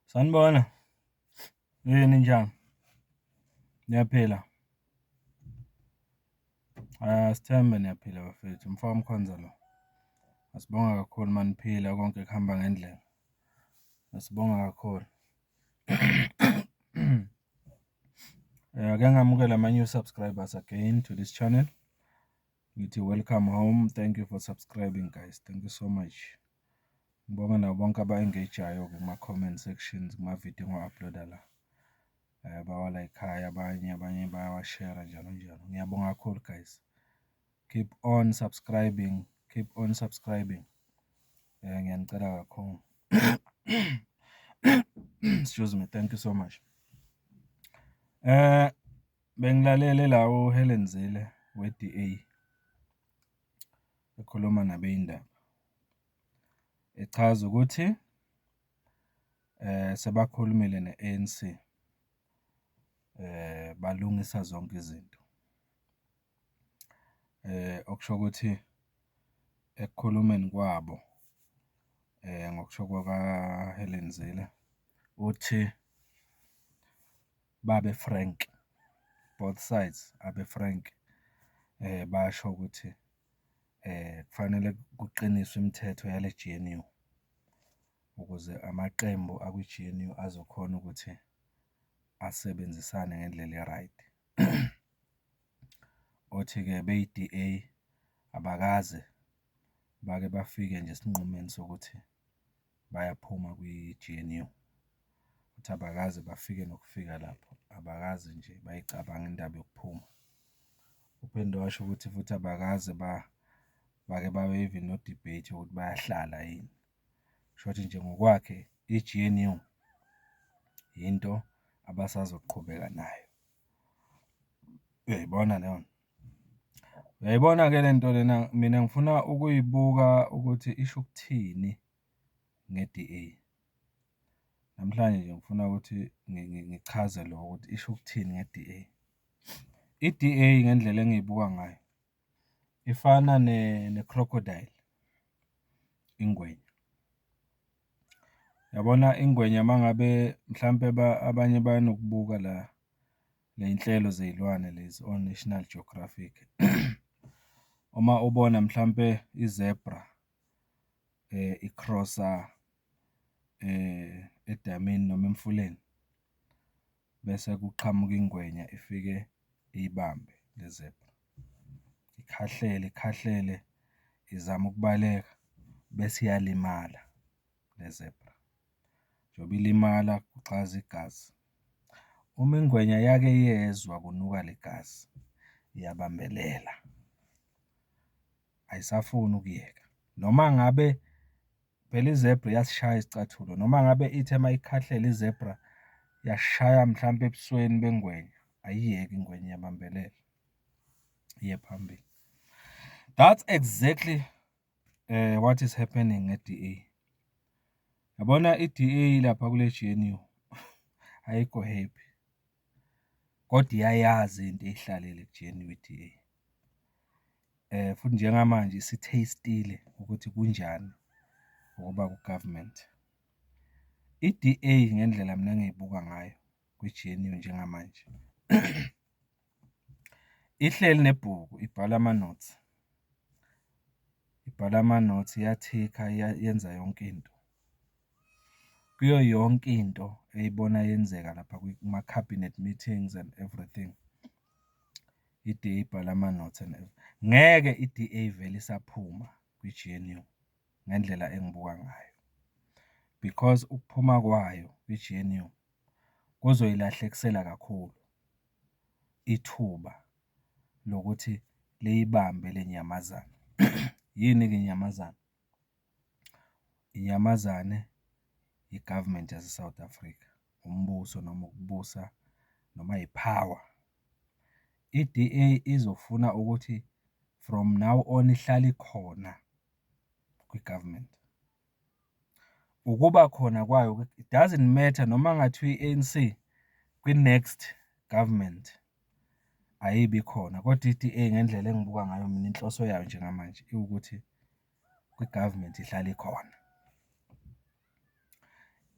Sanibona. Yini ninjani? Niyaphila? Sithembe niyaphila bafethu, umfo kaMkhonza lo. Sibonga kakhulu uma niphila konke kuhamba ngendlela. Sibonga kakhulu. Ake ngamukele ama-new subscribers again to this channel. Ngithi welcome home. Thank you for subscribing guys. Thank you so much. Ngibonge nabo bonke aba-engage-ayo-ke kuma-comment sections kuma-video engiwa-upload-a la, bawalayikhayo abanye, abanye bayawashera njalo njalo. Ngiyabonga kakhulu guys, keep on subscribing, keep on subscribing ngiyanicela kakhulu. Excuse me, thank you so much. Bengilalele la uHelen Zille we-D_A ekhuluma nabeyindaba. echaza ukuthi sebakhulumile ne-A_N_C balungisa zonke izinto. Okusho ukuthi ekukhulumeni kwabo ngokusho kwaka-Helen Zille uthi. babe frank, both sides abe frank, basho ukuthi kufanele kuqiniswe imithetho yale G_N_U ukuze amaqembu akwi-G_N_U azokhona ukuthi asebenzisane ngendlela e-right. Othi-ke beyi-D_A abakaze bake bafike nje esinqumeni sokuthi. bayaphuma kwi-G_N_U ukuthi abakaze bafike nokufika lapho, abakaze nje bayicabange indaba yokuphuma. Uphinde washo ukuthi futhi abakaze bake babe even no-debate yokuthi bayahlala yini. Kushuthi nje ngokwakhe i-G_N_U yinto abasazoqhubeka nayo. Uyayibona leyo nto? Uyayibona-ke le nto lena mina ngifuna ukuyibuka ukuthi isho ukuthini nge-D_A. Namhlanje nje ngifuna ukuthi ngichaze lokho ukuthi isho ukuthini nge-D_A. I-D_A ngendlela engiyibuka ngayo ifana ne-crocodile, ingwenya. Yabona ingwenya uma ngabe mhlampe abanye bayanokubuka la. Ley'nhlelo zey'lwane lezi o-National Geographic. Uma ubona mhlampe i-zebra i-cross-a edamini noma emfuleni, bese kuqhamuka ingwenya ifike iyibambe le-zebra. Ikhahlele, ikhahlele izama ukubaleka bese iyalimala le-zebra. Njengoba ilimala kugxaza igazi Uma ingwenya yake yezwa kunuka legazi iyabambelela ayisafuni ukuyeka noma ngabe phela izebra iyasishaya isicathulo noma ngabe ithi uma ikhahlele izebra yashaya mhlampe ebusweni bengwenya ayiyeki ingwenya iyabambelela iye phambili. That's exactly. what is happening ngeDA. Yabona iDA lapha kule GNU ayikho happy. Kodwa iyayazi into eyihlalele kuGNU iDA. Eh futhi njengamanje isithastile ukuthi kunjani ukuba kugovernment. IDA ngendlela mina engiyibuka ngayo kwiGNU njengamanje. Ihleli nebhuku ibhala amanothi, ibhala amanothi iyathikha yenza yonke into. Kuyo yonke into eyibona yenzeka lapha kuma-cabinet meetings and everything i-D_A ibhala amanothi and ngeke i-D_A ivele isaphuma kwi-G_N_U ngendlela engibuka ngayo because ukuphuma kwayo kwi-G_N_U kuzoyilahlekisela kakhulu. ithuba lokuthi liyibambe le nyamazane. Yini-ke inyamazane? Inyamazane i-government yase-South Africa, umbuso noma ukubusa noma yi-power. I-D_A izofuna ukuthi from now on ihlale ikhona kwi-government. Ukuba khona kwayo it doesn't matter noma kungathiwa i-A_N_C kwi-next government ayibi khona kodwa i-D_A ngendlela engibuka ngayo mina inhloso yayo njengamanje iwukuthi kwi-government ihlale ikhona.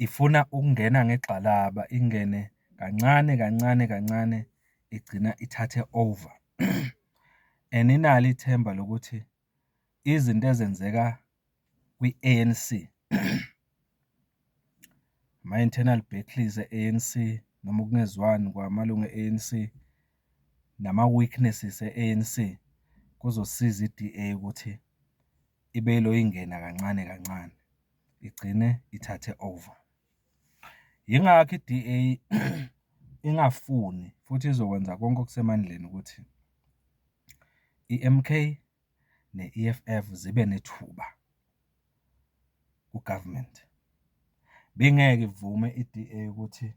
Ifuna ukungena ngegxalaba ingene kancane kancane kancane igcina ithathe over and inalo ithemba lokuthi. izinto ezenzeka kwi-A_N_C, ama-internal battles e-A_N_C noma ukungezwani kwamalunga e-A_N_C nama-weaknesses e-A_N_C, kuzosiza i-D_A ukuthi ibe ilo ingena kancane kancane, igcine ithathe over. Yingakho i-DA ingafuni futhi izokwenza konke okusemandleni ukuthi iMK ne-EFF zibe nethuba ku-government. Ibingeke ivume i-DA ukuthi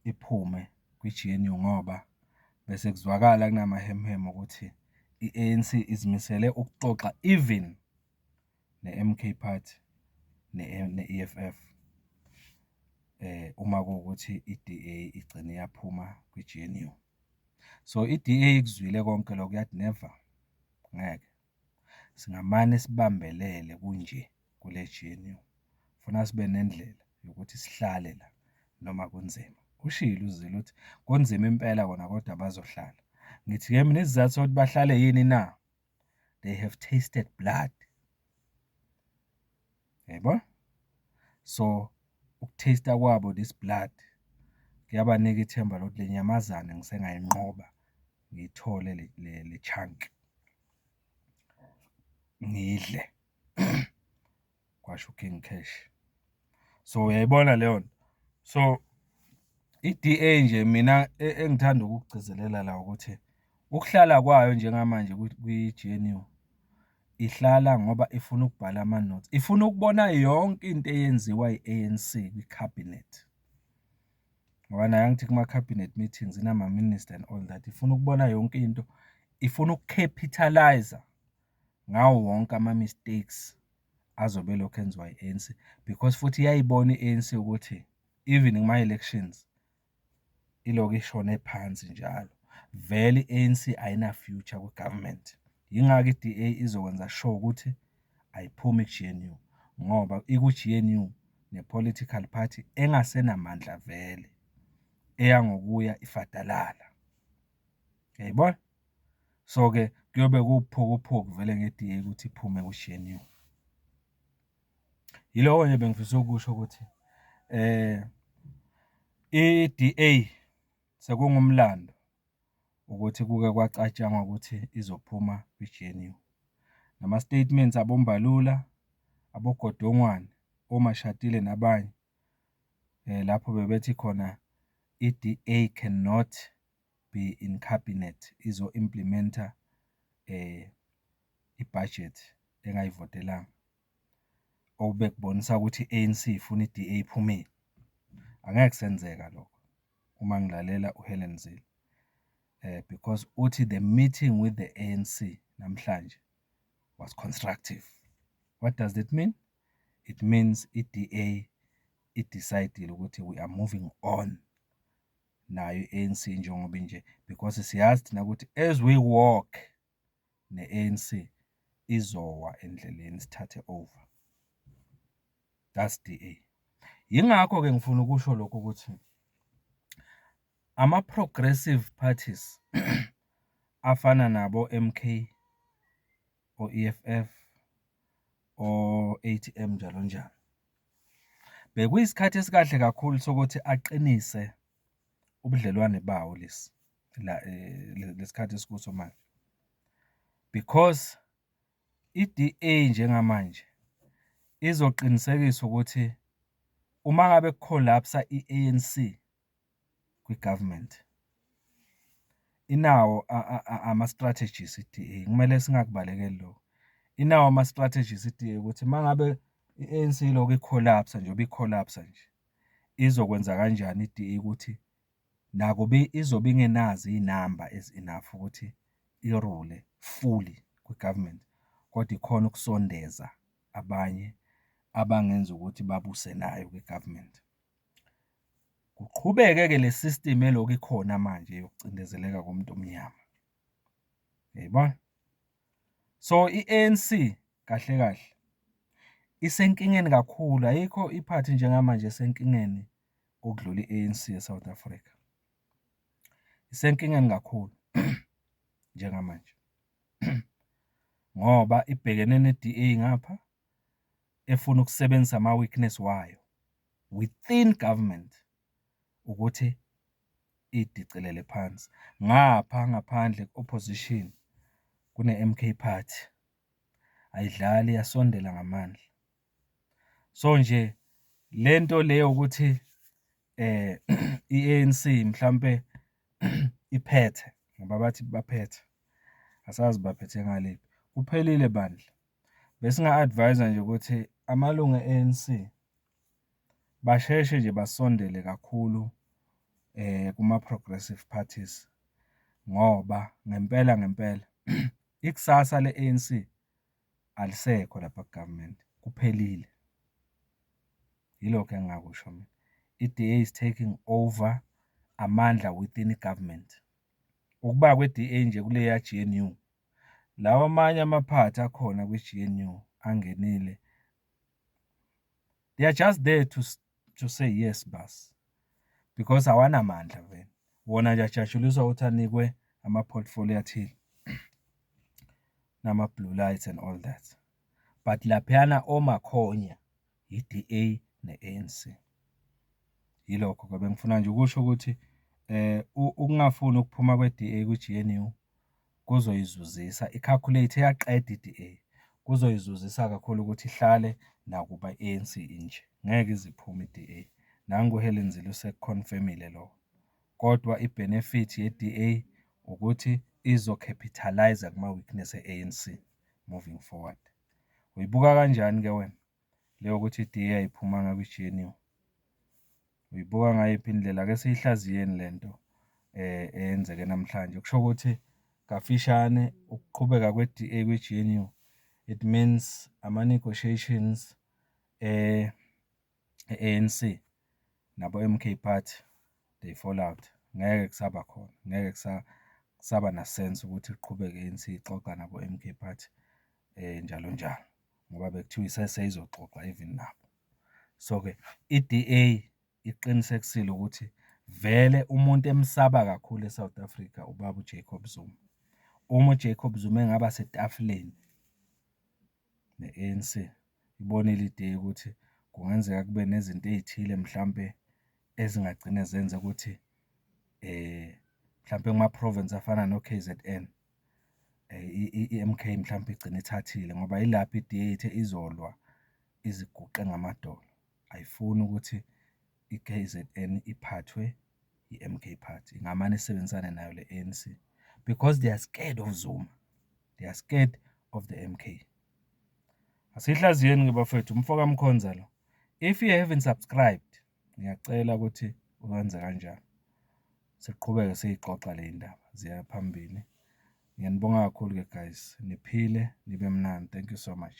iphume kwi-G_N_U ngoba bese kuzwakala kunamahemuhemu ukuthi i-A_N_C izimisele ukuxoxa even. ne-M_K Party ne-E_F_F uma kuwukuthi i-D_A igcine yaphuma kwi-G_N_U. So, i-D_A ikuzwile konke lokho yathi never, ngeke singamane sibambelele kunje kule G_N_U, funa sibe nendlela yokuthi sihlale la noma kunzima. Ushilo uZille uthi kunzima impela kona kodwa bazohlala. Ngithi-ke mina isizathu sokuthi bahlale yini na? they have tasted blood yebo so ukutaste kwabo this blood kuyabanika ithemba lokuthi le nyamazane ngisengayinqoba ngiyithole le chunk ngidle kwasho uKing Cash. So uyayibona leyo nto. So i-DA nje mina e, engithanda ukukugcizelela la ukuthi ukuhlala kwayo njengamanje kwi-GNU ihlala ngoba ifuna ukubhala ama-notes. Ifuna ukubona yonke into eyenziwa i-ANC kwi-cabinet. Ngoba naye angithi kuma-cabinet meetings inama-minister and all that. Ifuna ukubona yonke into. Ifuna ukucapitalise ngawo wonke ama mistakes azobe elokhu enziwa i-ANC because futhi iyayibona i-ANC ukuthi even kuma elections ilokhu ishone phansi njalo. Vele i-ANC ayina future kwi government. Yingakho i-DA izokwenza sure ukuthi ayiphumi ku-GNU ngoba iku-GNU ne political party engasenamandla vele eyangokuya ifadalala. Uyayibona? So-ke kuyobe kuwuphukuphuku vele nge-DA ukuthi iphume ku-GNU. Yiloko nje bengifisa ukusho ukuthi eh i-DA sekungumlando ukuthi kuke kwacatshangwa ukuthi izophuma kwi-GNU. Nama-statements aboMbalula, aboGodongwane, oMashatile nabanye lapho bebethi khona i-DA can not. be in cabinet izo implementer i budget engayivotelanga. Okubekubonisa ukuthi i-ANC ifuna i-DA iphumile. Angeke kusenzeka lokho uma ngilalela uHelen Zille. Eh because uthi the meeting with the ANC namhlanje was constructive. What does that mean? It means i-DA i-decidile ukuthi we are moving on nayo i-A_N_C njengoba inje because siyazi thina ukuthi as we walk ne-A_N_C izowa endleleni isithathe over. That's D_A. Yingakho-ke ngifuna ukusho lokhu ukuthi ama-progressive parties afana nabo-M_K o-E_F_F o-A_T_M njalo njalo. Bekuyisikhathi esikahle kakhulu sokuthi aqinise ubudlelwane bawo lesi la eh, lesikhathi esikuso manje because iDA njengamanje izoqinisekisa ukuthi uma ngabe kucollapse iANC kwi-government inawo ama-strategies i-D_A, kumele singakubalekeli lokho. Inawo ama-strategies i-D_A ukuthi uma ngabe i-A_N_C ilokhu ikholapsa njengoba ikholapsa nje, izokwenza kanjani i-D_A ukuthi nakuba izobe ingenazo iy'namba ezi-enough ukuthi irule fully kwi-government kodwa ikhone ukusondeza abanye abangenza ukuthi babuse nayo kwi-government. Kuqhubeke-ke le system elokhu ikhona manje yokucindezeleka komuntu omnyama. Yayibona? So i-ANC kahle kahle isenkingeni kakhulu, ayikho i-party njengamanje esenkingeni ukudlula i-ANC eSouth Africa. Isenkingeni kakhulu njengamanje ngoba ibhekene ne-DA ngapha, efuna ukusebenzisa ama weakness wayo within government ukuthi idicilele phansi ngapha ngaphandle opposition kune MK party ayidlali yasondela ngamandla so nje lento leyo ukuthi eh iANC mhlambe iphethe ngoba bathi baphethe asazi baphethe ngaliphi kuphelile bandla Besinga-advise-a nje ukuthi amalungu e-A_N_C basheshe nje basondele kakhulu kuma-progressive parties ngoba ngempela ngempela ikusasa le-A_N_C alisekho lapha ku-government, kuphelile. Yilokho engingakusho mina. I-D_A is taking over amandla within i-government. Ukuba kwe-D_A nje kuleya G_N_U. Lawa amanye amaphathi akhona kwiGNU angenile they are just there to to say yes bas because awanamandla vele wona nje ajatshuliswa ukuthi anikwe ama-portfolio athile nama-blue lights and all that but laphayana omakhonya yi-DA ne-ANC yilokho ke bengifuna nje ukusho ukuthi eh ukungafuni ukuphuma kwe-DA kwi-GNU kuzoyizuzisa i-calculate eyaqeda i-DA kuzoyizuzisa kakhulu ukuthi ihlale nakuba i-ANC inje ngeke iziphume i-DA nangu uHelen Zille useconfirmile lo kodwa i-benefit ye-DA ukuthi izo-capitalize kuma-weakness e-ANC moving forward. Uyibuka kanjani-ke wena? le yokuthi idiye ayiphumanga kwi-GNU uyibuka ngayiphi indlela ke siyihlaziyeni lento eh eyenzeke namhlanje kusho ukuthi kafishane ukuqhubeka kwe-DA kwi-GNU it means ama negotiations eh ANC nabo MK party they fall out ngeke kusaba khona ngeke kusa saba na sense ukuthi kuqhubeke ANC ixoxa nabo MK party eh njalo njalo. ngoba bekuthiwa isese izoxoxa even nabo. So-ke i-D_A iqinisekisile ukuthi vele umuntu emsaba kakhulu e-South Africa ubaba uJacob Zuma. Uma uJacob Zuma engaba setafuleni ne-A_N_C, ibonile i-D_A ukuthi kungenzeka kube nezinto ey'thile mhlampe ezingagcine zenza ukuthi mhlampe kuma-province afana no-K_Z_N. i-M_K mhlawumbe igcine ithathile ngoba yilapho i-D_A ithe izolwa iziguqe ngamadolo, ayifuni ukuthi i-K_Z_N iphathwe i-M_K party, ingamane isebenzisane nayo le-A_N_C because they are scared of Zuma, they are scared of the M_K. Asiyihlaziyeni-ke bafwethu umfoka Mkhonza lo, if you haven't subscribed. Ngiyacela ukuthi wenze kanjalo. Siqhubeke siyixoxa le ndaba ziya phambili. Ngiyanibonga kakhulu-ke guys, niphile nibe mnandi. Thank you so much.